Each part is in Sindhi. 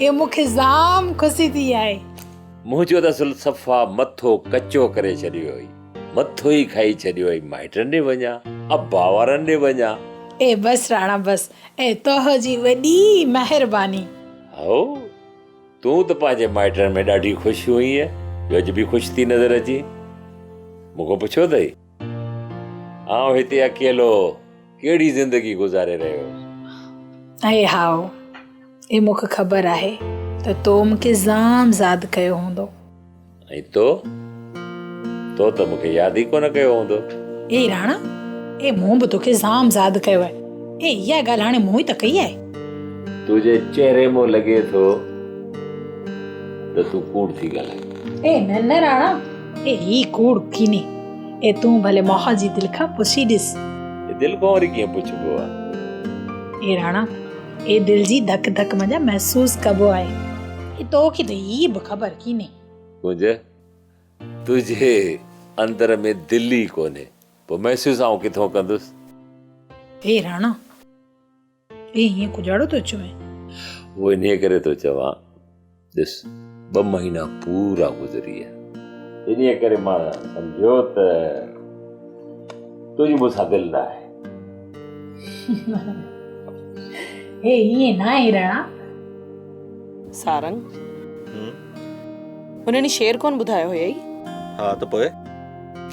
اهو مون کي زام خوشي ٿي آهي. منهنجو ته اصل صفا مٿو ڪچو ڪري ڇڏيو هئي. مٿو ئي کائي ڇڏيو هئي. مائٽن ڏي وڃان؟ ابا وارن ڏي وڃان؟ اي بس راڻا بس. اي توهه جي وڏي مهرباني. هائو، تون ته پنهنجي مائٽن ۾ ڏاڍي خوش هئينء جو اڄ به خوش ٿي نظر اچين. مون کان پڇيو اٿئي؟ آئون هتي اڪيلو ڪهڙي زندگي گذاري رهيو هوس. اي هائو، اي مون کي خبر آهي ته تو مون کي زام زاد ڪيو هوندو. ۽ تو؟ تو ته مون کي ياد ئي ڪونه ڪيو هوندو. اي راڻا، اي مون به تو کي زام زاد ڪيو آهي. اي اها ڳالهه هاڻي مون ئي ته ڪئي آهي. تنهنجي چهري مان لڳي ٿو ته تون ڪوڙ ٿي ڳالهائين. اي نه نه راڻا! اي هي ڪوڙ ڪيني. اي تون ڀلي ماهه جي دل کان پڇي ڏس. اي دل کان وري ڪيئن پڇبو آ. اي راڻا اي دل جي ڌڪ ڌڪ منجهان محسوس ڪبو آهي. اي توکي ته هي به خبر ڪيني. ڪنج تنهنجي اندر ۾ دل ئي ڪونهي پوء محسوس آئون ڪٿون ڪندس. اي راڻا. اي هيئن ڪجهاڙو ٿو چوين؟ اهو انهيء ڪري ٿو چوان، ڏس، ٻه مهينا پورا گذري ويا. انهيء ڪري مان سمجهيو ته تنهنجي مون سان دل نه آهي. هي هيئن ناهي رحا. سارنگ، هم؟ ان ڏينهن شعر ڪونه ٻڌايو هيئي؟ ها ته پوء؟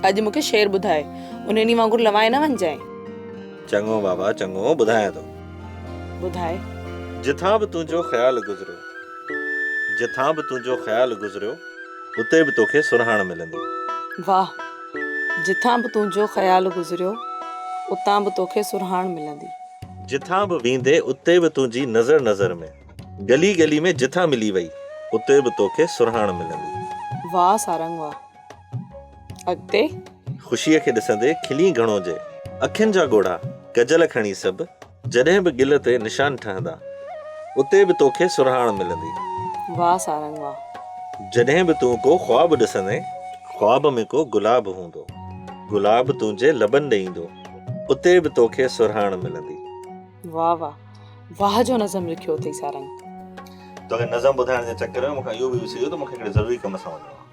اڄ مون کي شعر ٻڌاء. ان ڏينهن وانگر لوائي نه وڃجانء. چڱو بابا چڱو ٻڌايان ٿو. ٻڌائي. جتان به تنهنجو خيال گذريو. جتان به تنهنجو خيال گذريو. اتي به توکي سرهاڻ ملندي. واهه. جتان به تنهنجو خيال گذريو. اتان به توکي سرهاڻ ملندي. جتان به ويندي اتي به تنهنجي نظر نظر ۾. ڳلي ڳلي ۾ جتان ملي وئي. اتي به توکي سرهاڻ ملندي. واهه سارنگ واهه. اڳتي. خوشيء کي ڏسندي کلين گهڻو جي. اکين جا ڳوڙها ڪجل کڻي سڀ. جڏهن به گل تي نشان ٺهندا. اتي به توکي سرهاڻ ملندي. واهه سارنگ واهه. جڏهن به تون ڪو خواب ڏسندين. خواب ۾ ڪو گلاب هوندو. گلاب تنهنجي لبن ڏي ايندو. اتي به توکي سرهاڻ ملندي. واهه واهه. واهه جو نظم لکيو اٿئي سارنگ. توکي نظم ٻڌائڻ جي چڪر ۾ مون کان اهو به وسرجيو ته مون کي هڪڙي ضروري ڪم سان وڃڻو آهي.